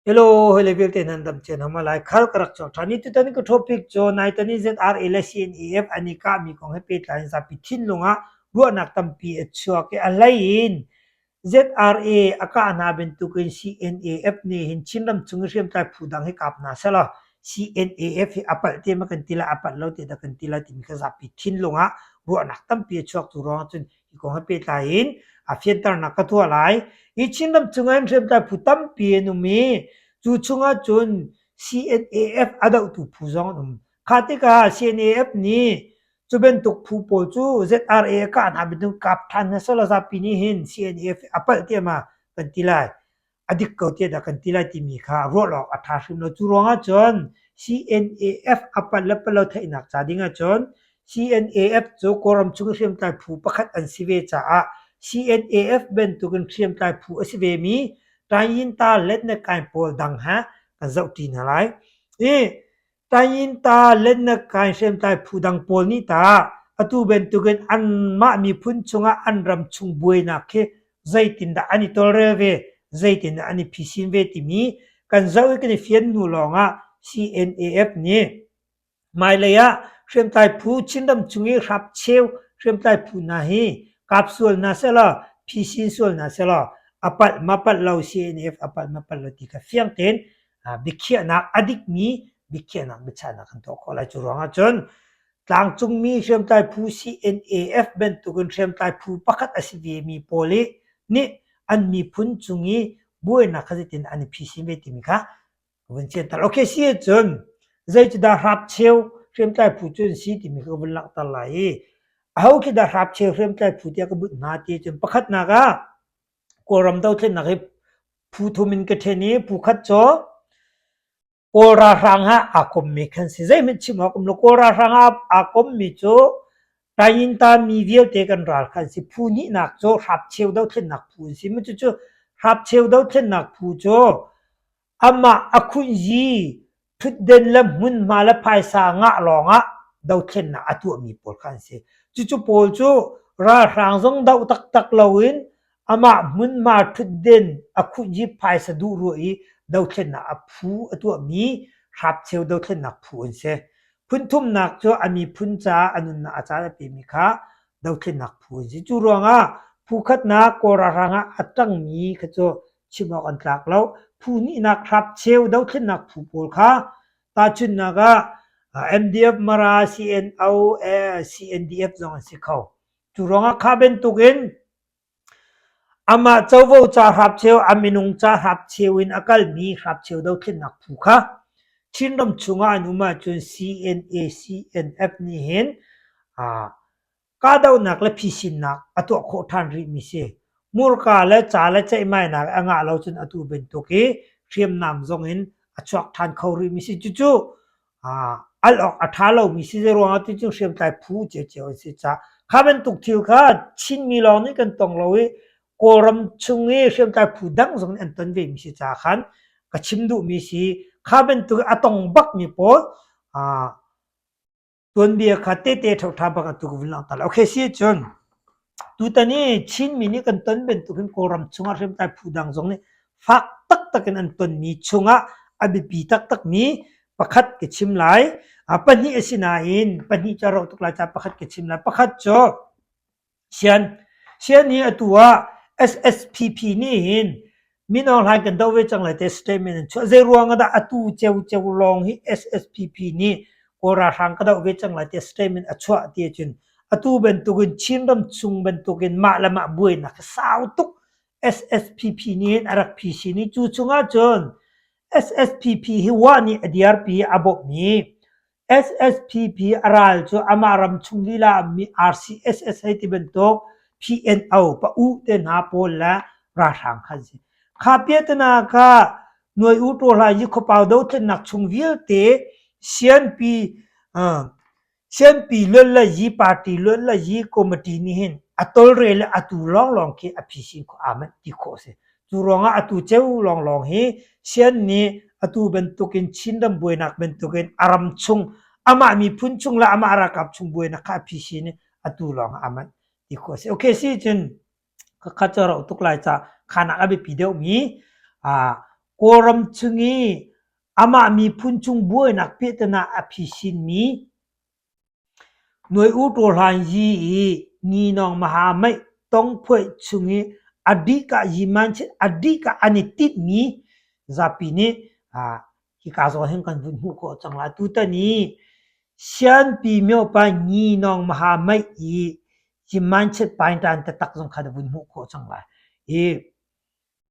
Hello, hawile vialte nan dam cian hama lai khar ka rak cawk ṭhan i tutan ka topic cu naitani ZRA le CNAF an i kahmi kong he pehtlai in zapi thinlung ah ruahnak tampi a chuak i a hlei in ZRA a kah hna bantuk in CNAF nih hin Chinram chung i hriamtlai phu dang hi kap hna selaw CNAF hi a palh te ma kan ti la a palh lo te dah kan ti la timi kha zapi thinlung ah ruahnak tampi a chuak tu ruang ahcun Hi kong he pehtlai in a fianternak ka tuah lai. Hi Chinram chungah hin hriamtlai phu tampi an um i cu chungah cun CNAF a dohtu phu zong an um. Kha tikah CNAF nih cu bantuk phu pawl cu ZRA a kah hna bantuk kap ṭhan hna selaw zapi nih hin CNAF a palh tiah kan ti lai. a dik ko tiah dah kan ti lai timi kha ruah awk a ṭha hrim lo. Cu ruangah cun CNAF a palh le palh lo theihnak ca ding ahcun CNAF cu Kawlram chung i hriamtlai phu pakhat an si ve caah CNAF bantukin hriamtlai phu a si vemi Tayin-Talet ne Kain pawl dang he kan zohṭi hna lai. I Tainta lennak kai hriamtlai phu dang pawl nih tah atu bantukin anmah miphun chungah an ram chung buainak khi zeitindah an i tawlrel ve, zeitindah an i phisin ve timi kan zoh i kan i fian hnu lawngah CNAF nih hmailei ah hriamtlai phu Chinram chung i hrapcheu hriamtlai phu hna hi kap sual hna selaw, phisin sual hna selaw a palh ma palh lo CNAF a palh ma palh lo ti kha fiang tein biakhiahnak a dikmi biakhiahnak biachahnak kan tuah khawh lai. Cu ruangah cun tlangcungmi hriamtlai phu CNAF bantukin hriamtlai phu pakhat a si vemi pawl i nih an miphun cung i buainak kha zetin an i phisin ve timi kha vun cianter. Ok si ahcun zeitindah hrapcheu hriamtlai phu cu an si timi ka vun langhter lai i aho khi dah hrapcheu hriamtlai phu tiah ka bunh hna ti ahcun pakhatnak ah Kawlram dothlennak hi phu thum in ka ṭhen i phu khat cu Kawl ralhrang he aa kommi kan si. Zeihmanh chim awk um lo. Kawl ralhrang ah aa kommi cu Taingintami vialte kan ral kha an si. Phu hnihnak cu Hrapcheu dothlennak phu an si. Cucu Hrapcheu dothlennak phu cu Amah a khunzi, ṭhutden le hmunhma le phaisa ngah lawngah dothlennak a tuahmi pawl kha an si. Cucu pawl cu ralhrang zong doh taktak loin amah hmunhma ṭhutden a khunzi phaisa duh ruah i dothlennak a phu a tuahmi hrapcheu dothlennak phu an si. Phunthumnak cu a miphun caah a nunnak a caan a pemi kha dothlennak phu an si. Cu ruangah phu khatnak Kawl ralhrang ah a ṭangmi kha cu chim awk an tlak lo. Phu hnihnak hrapcheu dothlennak phu pawl kha tahchunhnak ah MDF Mara CNO CNDF zong an si kho. Cu ruangah kha bantuk in amah covo ca hrapcheu a minung ca hrapcheu in a kalmi hrapcheu dothlennak phu kha Chinram chungah an um ahcun CNA CNF nih hin Kahdohnak le phisinnak a tuah khawh ṭhan rihmi si. Hmurka le ca le ceihmainak a ngah lo cun atu bantuk i hriamnam zong in a chuak ṭhan kho rihmi si. Cucu al awk a ṭha lomi si ruangah cucu hriamtlai phu cio an si caah kha bantuk thil kha Chinmi lawng nih kan tong lo i Kawlram chung i hriamtlai phu dang zong nih an ton vemi si caah khan ka chim duhmi si. Kha bantuk i a tong bakmi pawl Tuanbia kha tehte ṭhoṭha bak atu ka vun langhter lai. Okay, si ahcun tutan i Chinmi nih kan ton bantuk hin Kawlram chungah hriamtlai phu dang zong nih fak taktak in an tonmi chungah a biapi taktakmi pakhat ka chim lai. A pahnih a si nain pahnih cu a rau tuk lai caah pakhat ka chim lai. Pakhat cu Sian hi atu ah SSPP nih hin mino hlai kan doh ve cang lai tiah statement an chuah. Zeiruang ah dah atu ciocio lawng hi SSPP nih Kawl ralhrang ka doh ve cang lai tiah statement a chuah ti ahcun atu bantuk in Chinram chung bantuk in mah le mah buainak a sau tuk SSPP nih hin a rak phisin i cu chung ahcun SSPP hi wah nih a dirpi i a bawmh i SSPP a ral cu amah ramchung lila ah RCSS hei ti bantuk PNO pa-u te hna pawl le ralhrang kha an si. Kha piatenak ah Nuai U Ṭaw Hla Yikhuapau dothlennak chung vialte CNP uh, CNP luat le yi party luat le yi committee nih hin a tolre le atu lawnglawng khi a phisin khawh amen ti khawh a si. Cu ruangah atu ceu lawnglawng hi Sian nih atu bantukin Chinram buainak bantukin a ram chung amah miphun chung le amah ralkap chung buainak kha a phisin i atu lawngah a manh ti khawh a si. Okay, si cun ka khat cu a rauh tuk lai ca khanak a biapi deuhmi aa Kawlram chung i amah miphun chung buainak pehtan ah a phisinmi Nuai u ṭaw hlan yi i ni nawng maha maih tongphuaih chung i a dih kah an i tinhmi zapi nih hika zawn hin kan vun hmuh khawh cang lai. Tutan i sianpi myopa ni nawng maha maih i hi mindset pain ṭan tatak zong kha na vun hmuh khawh cang lai. Hi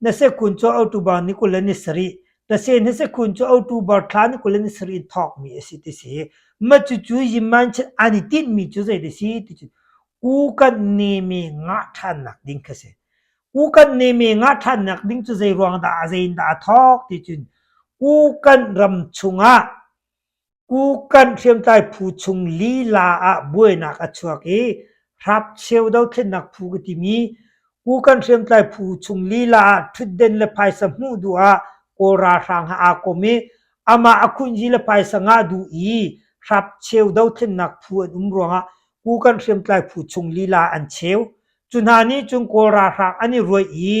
Na sekhun cu October ni kul le ni sarih, tase na sekhun cu October thla ni kul le ni sarih in thawkmi a si ti si. Mah cucu yinmanchit an i tinhmi cu zei ti si ti cun u kan neme ngah ṭhannak ding kha a si. U kan neme ngah ṭhannak ding cu zei ruang dah a zei in dah a thawk ti cun u kan ram chungah Kukan hriamtlai phu chung lila ah buainak a chuak i hrapcheu dothlennak phu ka timi Kukan hriamtlai phu chung lila ah ṭhutden le phaisa hmuh duh ah Kawl ralhrang ha aa kom i amah a khunji le phaisa ngah duh i hrapcheu dothlennak phu an um ruangah Kukan hriamtlai phu chung lila an cheu. Cu hna nih cun Kawl ralhrang an i ruaih i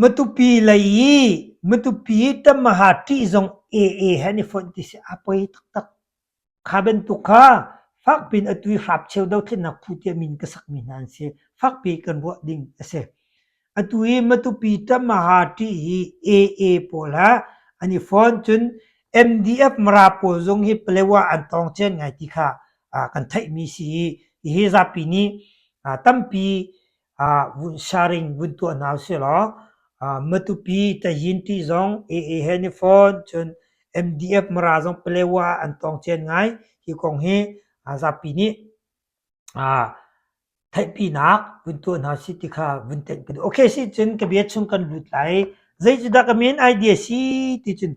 Matupi lei i matupi tamaha ṭih zong ee he an i fonh ti si a poi taktak. Kha bantuk kha fakpi in atu i hrapcheu dothlennak phu tiah min ka sakmi hna an si. Fakpi kan ruah ding a si. Atu i matupi tamaha ṭih hi ee pawl ha an i fon cun MDF Mara pawl zong hi Palawa an tawng cia ngai ti kha kan theihmi si i hihi zapi nih tampi vun saring vun tuah hna usihlaw Matupi Tayyinti zong AA Henifawn cun MDF Mara zong Palewa an tawng cen ngai hi kong hi zapi nih theihpinak vun tuah hna si ti kha vun tenh ka duh. Okay si cun ka bia chung kan lut lai. Zei cu dah ka men idea si ti cun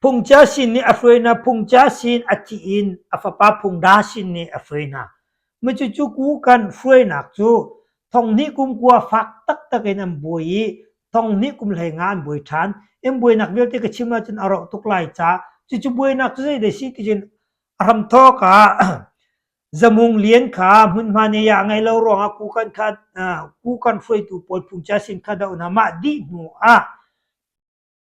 Phungchia sin nih a hruai hna, phungchia sin a thih in a fapa phungda sin nih a hruai hna. Cucu kukan hruainak cu thonghnih kum kua fak taktak in an buai i thonghnih kum hleinga an buai ṭhan. In buainak vialte ka chim ahcun a rawh tuk lai ca. Cucu buainak cu zeidah a si ti cun a hram thawk ah zamung lian kha hmunhma nei ah a ngei lo ruangah kukan kha kukan hruaitu pawl phungchia sin kha doh hna. Mah dih hnu ah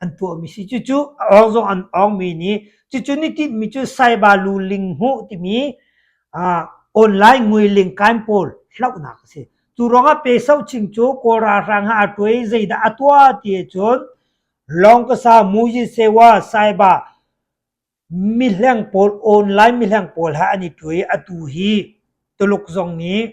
an tuahmi si. Cucu rawng zong an awngmi nih cucu ni tinhmi cu saiba lu ling hmuh timi online ngui ling kain pawl hlauhnak a si. Cu ruangah pe sau ching cu Kawlra hrang ha a tuai zeidah a tua ti cun lawng kasa muji sewa saiba mihleng pawl online mihleng pawl ha an i tuai atu hi Tuluk zong nih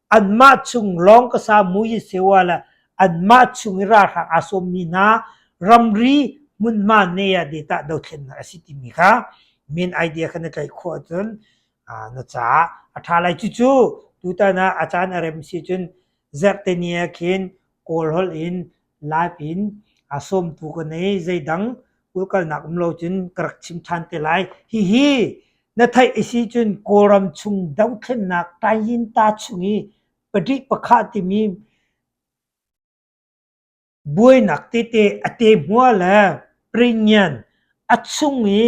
Anmah chung lawng ka sa mu hi si uh le anmah chung i ralhrang aa sawmmi hna ramri hmunhma nei ah datah dothlennak a si timi kha min idea kan i tlaih khawh ahcun uh, na caah a ṭha lai cucu tutan ah a caan a rem si cun zerhteni ah khin kawl holh in lai pin aa sawmtu ka nei zeidang ulkalnak um lo cun ka rak chim ṭhan te lai hihi na theih a si cun kawlram chung dothlennak tayinta chung i patrik pakhat timi buainak tete a te hmua le pringian a chung i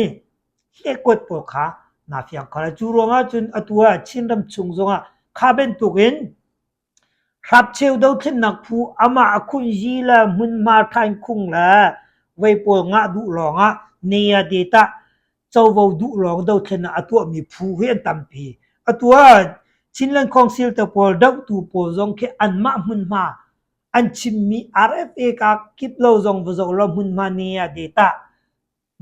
hlekuat pawl kha naa fiang kho lai cu ruangah cun atu ah chinram chung zongah kha bantukin Hrapcheu dothlennak phu amah a khunzi le hmunhma ṭhain khung le voi pawl ngah duh lawngah ne-a det ah covo duh lawng dothlen ah a tuahmi phu hi an tampi. Atu ah Chinland Council pawl dohtu pawl zong khi anmah hmunhma an chimmi RFA kaa kip lo zong va zoh law hmunhma ne-a det ah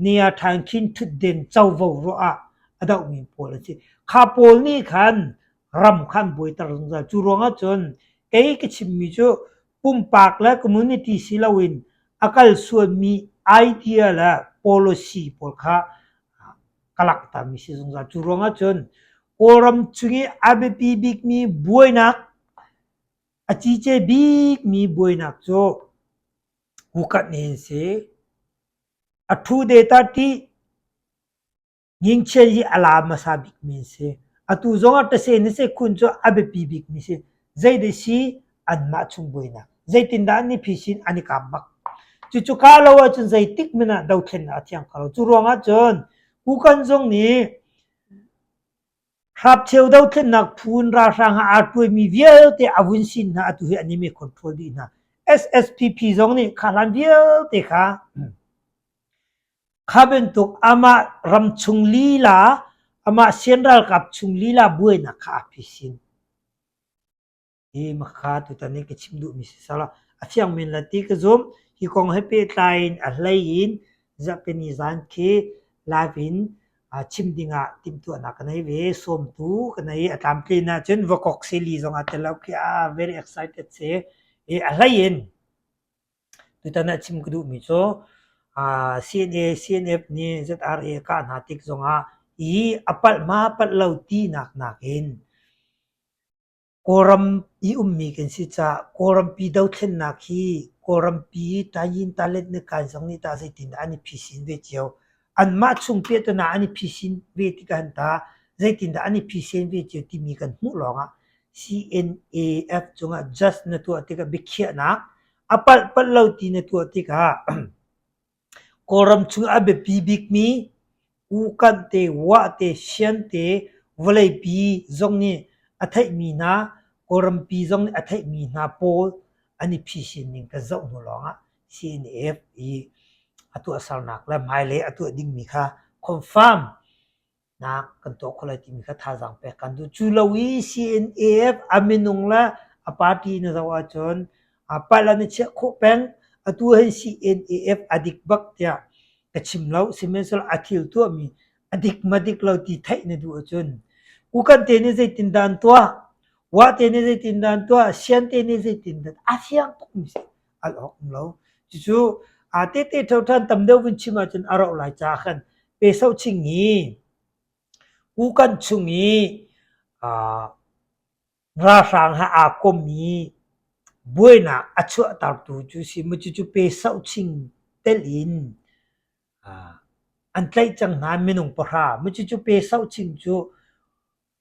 Niaṭhan khin ṭhutden covo ruah ah a dohmi pawl an si. Kha pawl nih khan ram kha an buaiter zungzal. Cu ruangah cun kei ka chimmi cu pumpak le community si loin a kal sualmi idea le policy pawl kha ka langhtermi si zungzal. Cu ruangah cun Kawlram chung i a biapi bikmi buainak, a cice bikmi buainak cu Hukanh hi an si. A ṭhu data ṭih. Ngingchia hi a la hmasa bikmi an si. Atu zong ah ṭase nase khun cu a biapi bikmi si. Zeidah si? Anmah chung buainak. Zeitindah an i phisin an i kaam bak. Cucu kaa lo ahcun zeitik hmanh ah dothlennak a thiang kho lo. Cu ruangah cun Hukanh zong nih Hrapcheu dothlennak phu in ralhrang ah aa ṭuaimi vialte a vun sin hna atu hi an i mee control dih hna. SSPP zong nih kha hlan vialte kha kha bantuk amah ram chung lila amah sian ralkap chung lila buainak kha a phisin. hi makha tutan in ka chim duhmi si sal a fiang men la ti ka zum hi kong he pehtlai in a hlei in zapeni zan khi live in chim ding ah timhtuahnak ka nei ve sawmtu ka nei a tlamtlin ahcun vakok seli zong ah telo khi a very excited si i a hlei in tutan ah chim ka duhmi cu CNA CNF nih ZRA kah hna tik zong ah i a palh ma palh lo tinak nakin Kawlram i ummi kan si caah Kawlrampi dothlennak hi Kawlrampi Tayin Talet Nakan zong nih tah zeitindah an i phisin ve cio. Anmah chung pehton ah an i phisin ve tikah hin tah zeitindah an i phisen ve cio timi kan hmuh lawngah CNAF cungah just na tuah tikah biakhiahnak a palh palh lo ti na tuah tikah Kawlram chung a biapi bikmi ukanh te, uah te, sian te, vawleipi zong nih a theihmi hna, Kawlrampi zong nih a theihmi hna pawl an i phisin ning kan zoh hnu lawngah CNF i a tuahsernak le hmailei a tuah dingmi kha confirm nak kan tuah khawh lai timi kha thazaang pek kan duh. Cu lo i CNAF a minung le a party na zoh ahcun a palan i chiah khawh peng atu hin CNAF a dik bak tiah ka chim lo. Sihmanhsehlaw a thil tuahmi a dik madik lo ti theih na duh ahcun kukan te nih zeitindah an tuah, wah te nih zeitindah an tuah, sian te nih zeitindah a fiang tukmi si. al awk um lo. Cucu aa tete tho than tam deuh kan chim ahcun a rauh lai caah khan pe so ching i kukan chung i ralhrang ha aa kom i buainak a chuahtertu cu si mu cucu pe so ching tel in an tlaih cang hna minung pahra mu cucu pe so ching cu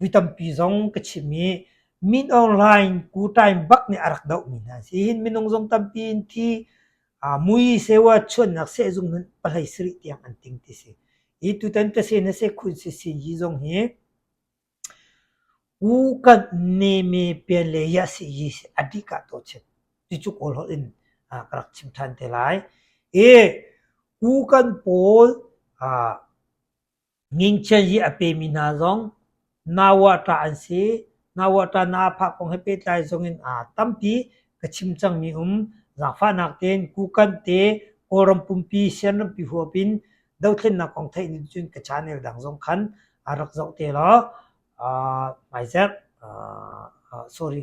Mi tampi zong ka chimh i Min Aung Hlaing kutain bak nih a rak dohmi hna a si hin minung zong tampi in thi uh, mui sewa chuannak sehzung nun palai sarih tiang an ting ti si i tutan ka se na se khun si sin hi zong hi u kan ne me pian le ya si hi a dih ka to chim ti chu kawl hol in uh, ka rak chim than te lai e u kan pawl uh, Ngingchia zi a pemi hna zong na-wah-ṭah an si. Na-wah-ṭah na a phah kong he pehtlai zongin tampi ka chim cangmi um. Zaangfahnak tein kukan te, Kawlram pumpi, Sian rampi huap in dothlennak kong theih ning cun ka channel dang zong khan a rak zoh te law hmaizek, sorry.